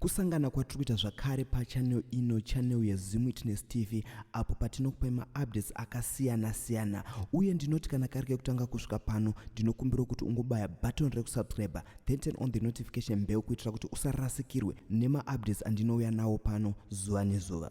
Kusangana kwatiri kuita zvakare pachanel ino chanel yeZim Witness TV apo patinokupai maupdates akasiyana siyana uye ndinoti kana kari kekutanga kusvika pano ndinokumbirawo kuti ungobaya button rekusubscriber then turn on the notification bell kuitira kuti usarasikirwe nemaupdates andinouya nawo pano zuva nezuva.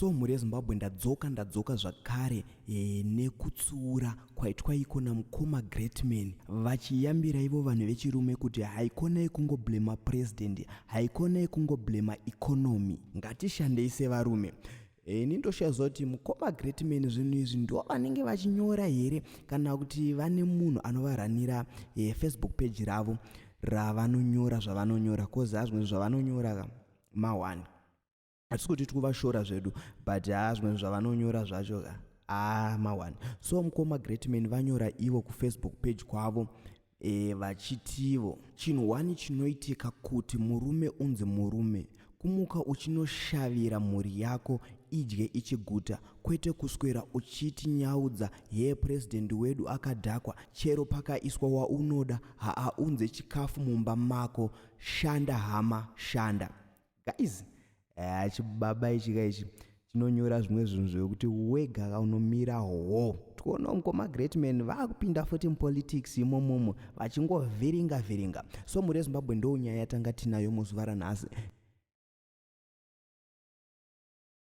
so mhuri yezimbabwe ndadzoka ndadzoka zvakare e, nekutsiura kwaitwa iko namukoma greatman vachiyambira ivo vanhu vechirume kuti haikona yekungoblema president haikona yekungoblema economy ngatishandei sevarume Eh, ini ndoshaziva kuti mukoma great man zvinhu izvi ndo vanenge vachinyora here kana kuti vane munhu anovaranira eh, facebook page ravo ravanonyora zvavanonyora coz hazvimwe zvavanonyora mawani hatisi kuti tikuvashora zvedu but haa zvimwe zvavanonyora zvacho haa mawani so mukoma great man vanyora ivo kufacebook page kwavo E, vachitivo chinhu wani chinoitika kuti murume unzi murume kumuka uchinoshavira mhuri yako idye ichiguta kwete kuswera uchiti nyaudza hee purezidendi wedu akadhakwa chero pakaiswa waunoda haaunze chikafu mumba mako shanda hama shanda guys eh, chibaba ichi ka ichi chinonyora zvimwe zvinhu zvekuti wega ka unomira hoo tikuona mukoma greatman vakupinda futi mupolitics imomomo vachingovhiringa vhiringa so mhuri yezimbabwe ndounyaya yatanga tinayo muzuva ranhasi